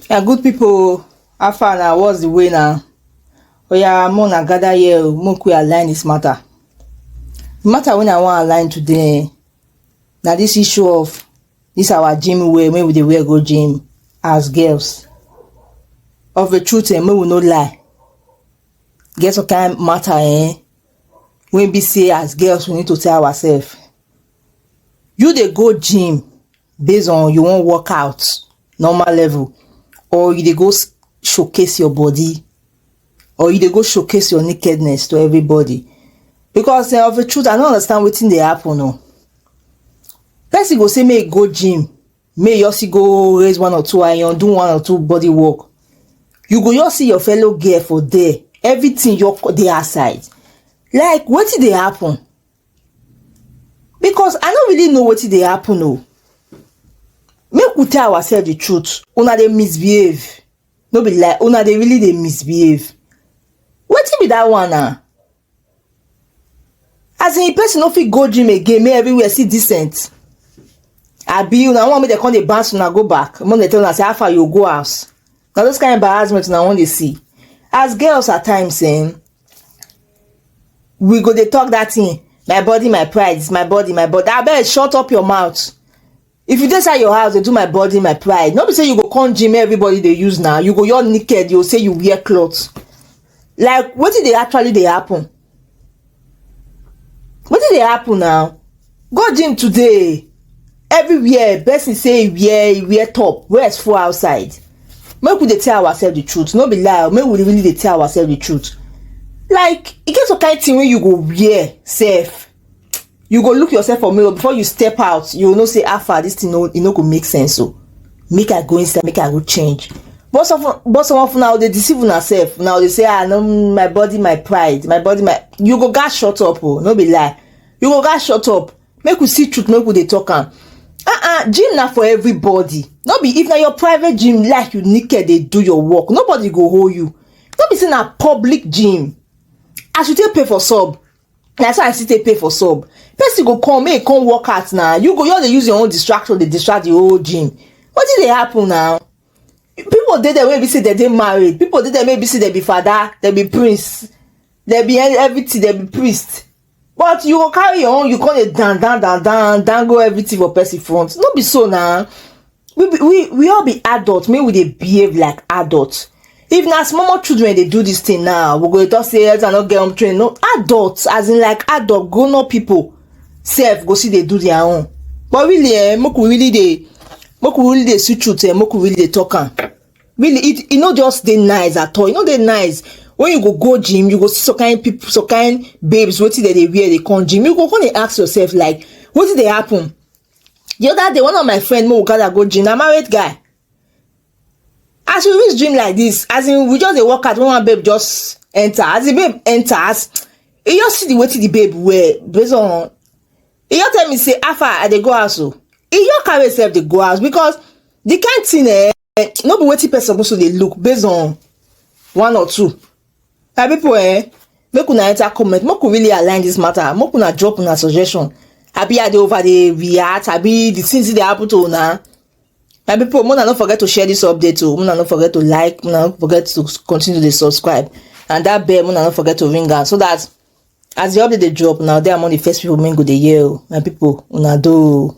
na good people how far na what's the way na oya mo na gather here o make we align this matter the matter wey i wan align today na this issue of This our gym wear wey we dey wear go gym as girls. Of a truth eh, make we no lie. Get some kind matter eh, wey be say as girls we need to tell ourselves. You dey go gym based on you wan work out normal level or you dey go s- showcase your body or you dey go showcase your nakedness to everybody because uh, of the truth i no understand wetin dey happen o person go say make e go gym make e also go raise one or two iron do one or two body work you go just see your fellow girl for there everything your dey her side like wetin dey happen because i no really know wetin dey happen o make we tell ourselves the truth una dey misbehave no be lie una dey really dey misbehave wetin be that one na as in person no fit go gym again make everywhere see decent abi una wan make dem come dey bounce una go back make dem tell una say how far you go house na those kind embarrassment una wan dey see as girls at times eh, we go dey talk that thing my body my pride is my body my body abeg shut up your mouth If you dey inside your house dey do my body my pride, no be say you go come gym everybody dey use now, you go your naked, you go say you wear cloth. Like wetin dey actually dey happen? Wetin dey happen now? Go gym today. Everywhere person say e wear e wear top, wear as full outside. Make we dey tell ourselves the truth, no be lie, make we really dey tell ourselves the truth. Like e get some kind thing wey you go wear sef you go look yourself for mirror before you step out you know say how far this thing no e no go make sense o oh. make i go inside make i go change but some but some of una dey deceive una sef una dey say ah no my body my pride my body my you go gats shut up o oh, no be lie you go gats shut up make we see truth make we dey talk am ah ah gym na for everybody no be if na your private gym like you naked dey do your work nobody go hold you no be say na public gym as you take pay for sub na so i still take pay for sub person go come make e come work out na you go just dey use your own distraction dey distract the whole gym wetin dey happen na people dey there wey be say dem dey married people dey there wey be say dem be father dem be prince dem be e, everything dem be priest but you go carry your own you come dey dan dan dan dan dango everything for person front no be so na we be we we all be adult make we dey behave like adult if na small small children dey do this thing now we go dey talk say elder no get home training no adult as in like adult grown up people sef go still dey do their own but really eh make we really dey make we really dey see truth eh make we really dey talk am really it e no just dey nice at all e no dey nice when you go go gym you go see some kind people some kind babes wetin dem dey wear dey come gym you go come dey ask yourself like wetin dey happen the other day one of my friend make we gather go gym na married guy as we reach gym like this as in we just dey work out when one babe just enter as the babe enter as e just see the wetin the babe wear based on e just tell me say how far i dey go house o e just carry himself dey go house because the kind thing eh eh, no be wetin person suppose to dey look based on one or two my people eh make una enter comment make we really align this matter make una drop una suggestion abi i dey over dey react abi the things dey happen to una my people una no forget to share this update o oh. una no forget to like una no forget to continue to dey subscribe and that bell una no forget to ring am so that as the update dey drop na there among the first people wey go dey hear o oh. my people una do o. Oh.